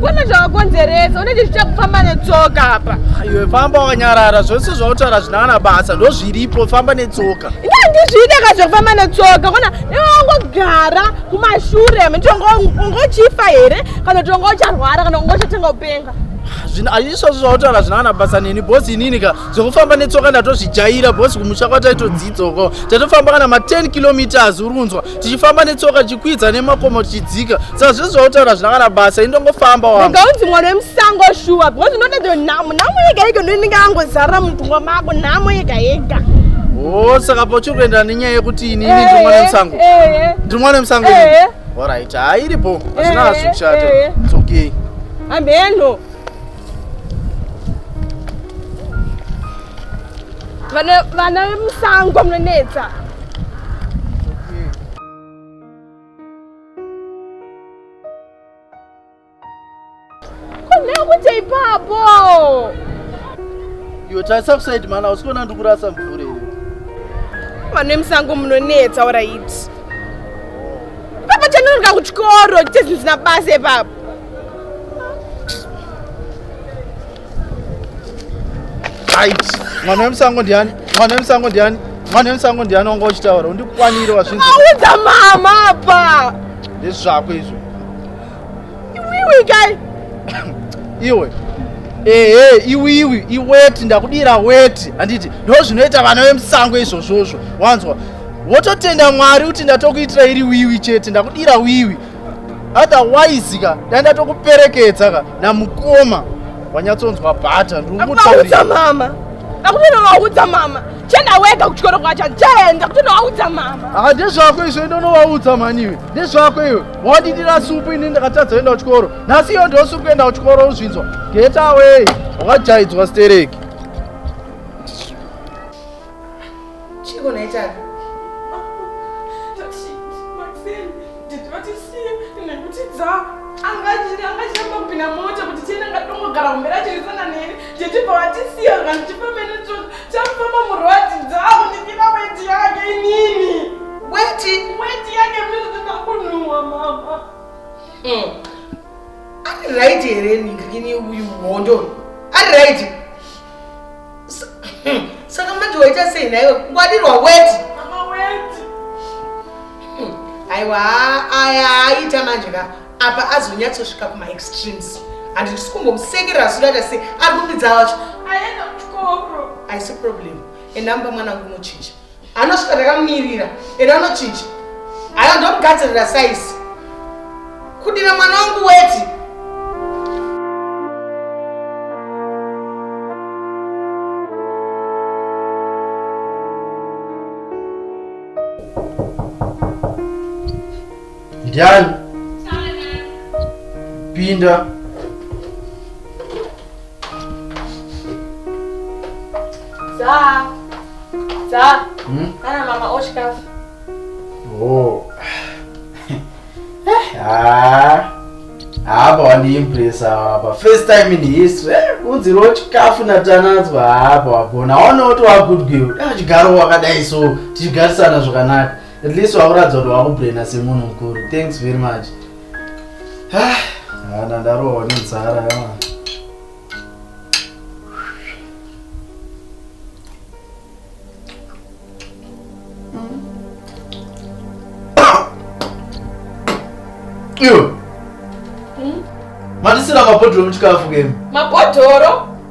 Kwana zvawakonzeresa unechi zvichakufamba netsoka apa. Iwe famba wakanyarara zvose zvautora zvinana basa ndozviripo famba netsoka. Inga ndizvide ka zvekufamba netsoka kwana iwe wangogara kumashure mtongo ungochifa here kana tongo ucharwara kana ungochatenga upenga. Zvino azvisozvo zvautora zvinana basa neni boss inini ka zvekufamba netsoka ndatozvijaira bcause kumusha kwataitodzidzoko tatofamba kana ma10 kilometers uri kunzwa tichifamba netsoka tichikwidza nemakomo tichidzika saka zvese zvautaura zvina kana basa indongofamba wangaunzi mwana wemusango shuwa bcause unotato nhamo nhamo yega yega ndoinenge angozarira mupfungwa mako nhamo yega yega o oh, saka pauchiri kuendera nenyaya yekuti inini eh, ndiri mwana wemusango eh, eh. ndiri mwana wemusango orit hairipo hazvina hazvikushata it's okay ambeno vana vana vemusango munonetsa kune kuita ipapo iwe tarisa kusaidi mhana hausi kuona ndi kurasa mvura iyo vanhu vemusango munonetsa oraiti papa chanonga kuchikoro chitezvinhu zina basa ipapo mwana wemusango ndiani mwana wemusango ndiani mwana wemusango ndiani wanga uchitaura undikwanire wazvinzaaudza mama apa ndezvi zvako izvo iwiwi kai iwe ehe iwiwi iweti ndakudira weti handiti ndo zvinoita vana vemusango izvozvozvo wanzwa wototenda mwari kuti ndatokuitira iri wiwi chete ndakudira wiwi otherwise ka dai ndatokuperekedza ka namukoma wanyatsonzwa bhata ndiumutaurira mama akutonovaudza mama chenda wega kuchikoro kwacho chenda kutonovaudza mama haa ah, ndezvako izvo indonovaudza maniwe ndezvako iwe wadidira supu ini ndakatadza kuenda kuchikoro nhasi iyo ndiosupu kuenda kuchikoro uzvinzwa getaway wakajaidzwa stereki Chiiko nhai Tara? angachambopinda mota kuti tiende ngatongogara kumbe rachirisana neni tete pavatisiya vanhu tipamene tsoka chakufamba murwadzi dzavo ndipina weti yake inini weti weti yake mizotinakunhuwa mama hmm. ari right here ningini uyu hondo ari right saka manje waita sei naiwe ngwadirwa weti aiwa aya aita manje ka apa azonyatsosvika kumaextremes handi tisi kumbomusekera zvidaita sei ari kupidza wacho aisi problem enamba mwana kumuchinja anosvika ndakamumirira ena anochinja aya ndomugadzirira saisi kudira mwana wangu weti ndiani pinda Za. Za. Hmm? Kana mama ochikafu. Oh. ah. Hapa wandiimpresa hapa. First time in history. Eh, Unzi ro chikafu na tanadzwa hapa wagona. Waona kuti wa good girl. Ah, chigaro wakadai so tichigarisana zvakanaka. At least wakuratidza kuti wakubraina semunhu mukuru. Thanks very much. Ah, hana ndarohwa nenzara yama. Yo. Hmm? Matisira mabhodhoro muchikafu kemu. Mabhodhoro?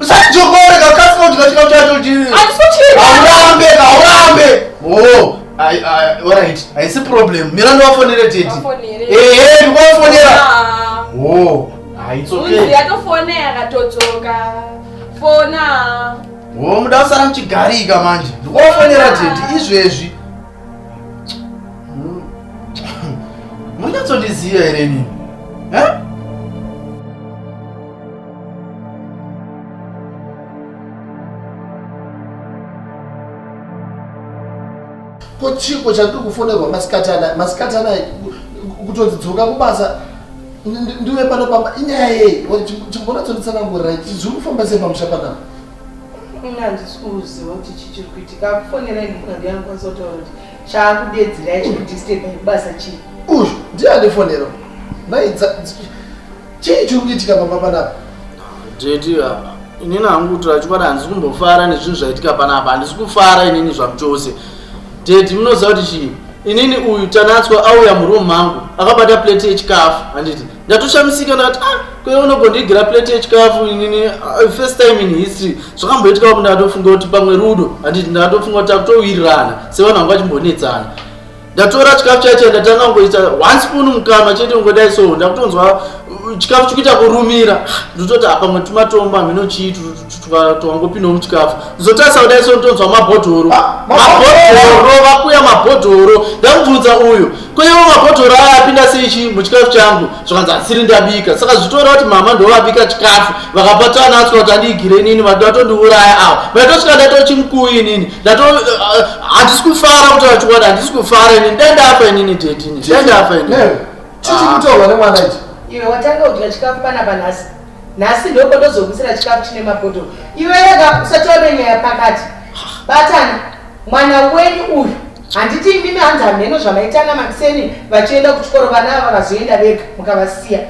Usachokore kakasi kuti kachika chacho chiri. Atisikuchiri. Aurambe, aurambe. Oh. I, I, all right. I see problem. Mira ndo wafonere tete. Wafonere. Eh, eh, ndo wafonera. Ah. Oh. Ah, it's okay. Unzi yatofonera katodzoka. Fona. Oh, muda usara mchigarika manje. Ndo wafonera tete izvezvi. Hmm. Munyatso ndiziya here nini? Eh? ko chiko chandiri kufonerwa masikati anaya masikati anaya kutonzi dzoka kubasa ndiwe pano pamba inyaya yei chimbona tsonitsanangurira zviri kufamba sei pamusha panapa ini handisi kuziva kuti chii chiri kuitika akufonera ini munhu andiani kwanisa kutaura kuti chaakudedzera ichi kudisteba ibasa chii uyu ndiye andifonera nai Chii chiri kuitika pamba panapa? Jeti apa. Inini hangu kutura chikwadi handisi kumbofara nezvinhu zvaitika panapa. Handisi kufara inini zvamuchose. Jeti munoziva kuti chii? Inini uyu Tanatswa auya muroom mangu akabata plate yechikafu handiti ndatoshamisika ndakati ah kwee unogondiigira plate yechikafu inini uh, first time in history zvakamboitika kuti ndakatofunga kuti pamwe rudo handiti ndakatofunga kuti akutowirirana sevanhu vanga vachimbonetsana ndatora chikafu chaicha ndatanga kungoita one spoon mukanwa chete kungodai so ndakutonzwa uh, chikafu chikuita kurumira ndototi apamwe tumatomba hameno chii twangopindawo muchikafu zotarisa kudai so ndotonzwa mabhodhoro ah, mabhodhoro vakuya mabhodhoro ndamubvunza uyu koiwo mabhodhoro aya apinda sei chii muchikafu changu zvakanzi asiri ndabika saka zvitora kuti mama ndovabika chikafu vakapatana asika kuti andiigire inini vatotondiuraya awa vaitosvika ndatochimukuwi inini Hatisi kufara kuti vachikwadi hatisi kufara ini ndandafa inini teti ini ndandafa ini. Chichi ah. kutorwa nemwana ichi. Iwe watanga kudya chikafu pana panhasi. Nhasi ndoko ndozokuisira chikafu chine mapoto. Iwe rega usati wave nyaya pakati. Batana mwana wenyu uyu handiti imimi hanzi hameno zvamaitanga makuseni vachienda kuchikoro vana ava vazoenda vega mukavasiya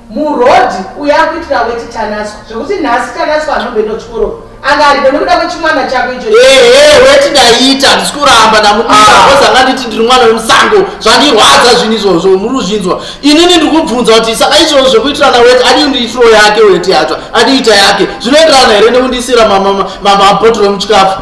muroad uye akuitira weti tanaswa zvekuti nhasi tanaswa anomboenda kuchikoro anga aribe nekuda kwechimwana chako icho ehe weti ndaiita handisi kuramba ndamudiaoz ah. anga nditi ndiri mwana wemusango zvandirwadza zvinhu izvozvo muri kuzvinzwa inini ndiri kubvunza kuti saka izvozvo zvekuitirana weti adii ndiitiro yake weti yacho adiita yake zvinoenderana here nekundiisira mamabotoro emuchikafu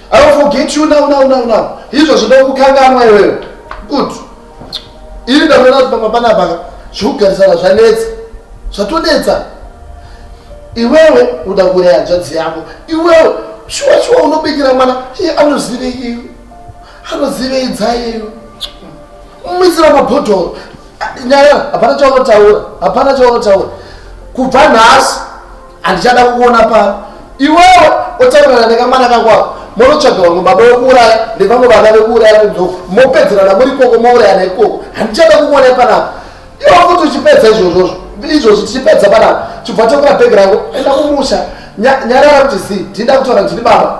I will forget you now now now now. Izvo zvinoda kukanganwa iwewe. Good. Ini ndavona kuti pamba pana baka zvikugarisana zvanetsa. Zvatonetsa. Iwewe uda kuuraya hanzvadzi yako. Iwewe shuwa shuwa unobikira mwana iye anozive iwe. Anozive idzaye iwe. Mumisira mabhodhoro. Nyaya hapana chaunotaura. Hapana chaunotaura. Kubva nhasi Andichada kukuona pano. Iwewe otaurana nekamwana kangu ako. Monotsvaga vamwe baba vekuuraya nevamwe vana vekuuraya kunzoko. Mopedzerana muri ikoko mourayana ikoko. Andichada kukuona panapa. Iwe kuti uchipedza izvozvozvo. Izvozvi tichipedza panapa. Chibva tokura bhegi rangu. Enda kumusha. Nyarara kuti zii. Ndinda kutaura ndiri baba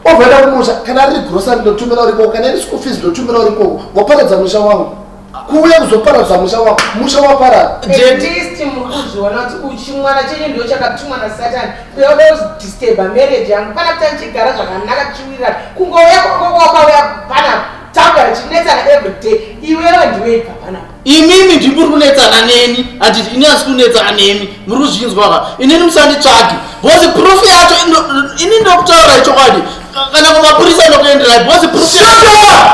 ovaenda kumusha kana riri grosa ndotumira uri koko kana iri school fees ndotumira uri koko waparadza musha wangu kuuya kuzoparadza musha wako musha waparara jetisti muri kuzviona kuti chimwana chenyu ndo chakatumwa nasatani kuyaoda kuzidisturba marriage yangu pana kuti tichigara zvakanaka tichiwirirana kungouya kwakauya panapa tanga richinetsana everyday iwewe ndiwe ibva panapa imimi ndiri kuri kunetsana neni handiti ini asi kunetsana nemi muri kuzvinzwa ka inini musanditsvagi bcause proof yacho ini ndokutaura ichokwadi kana kumapurisa ndokuenderai because proof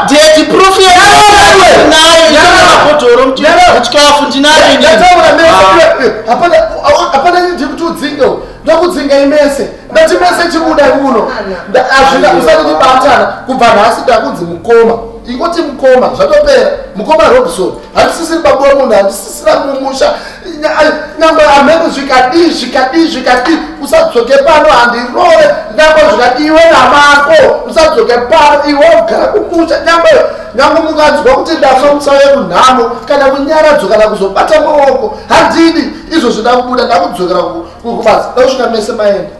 deti proof yenayoabhodhoro muchikafu ndinayohapana nyindi kuti udzinge ndakudzinga imese ndati mese chibuda kuno azvina usati tibatana kubva nhasi ndakunzi mukoma ingoti mukoma zvatopera mukoma robson handisisiri babuwa munhu handisisira mumusha nyangwe amene zvikadii zvikadii zvikadii usadzoke pano handirore nyangwe zvikadii iwe namako usadzoke pano iwe ugara kumusha nyangwe nyangwe munganzwa kuti ndafa musauye kunhamo kana kunyaradzo kana kuzobata maoko handidi izvo zvida kubuda ndakudzokera kubasa dakusvika mese maenda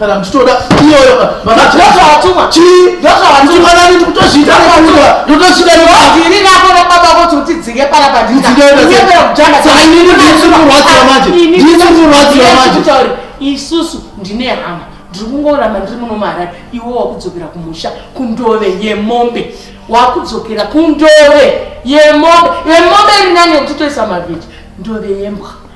kana muchitoda iyoyo vakatoatumwa chii vakatoatumwa nani ndikutozviita ndotozvida ndiri nako nababa kuti utidzinge pala pandinaaininiikurwadziwa manje ndiikurwadziwa manje isusu ndine hama ndiri kungoramba ndiri muno maharare iwe wakudzokera kumusha kundove yemombe wakudzokera kundove yemombe yemombe iri nani yekuti toisa mavhiti ndove yembwa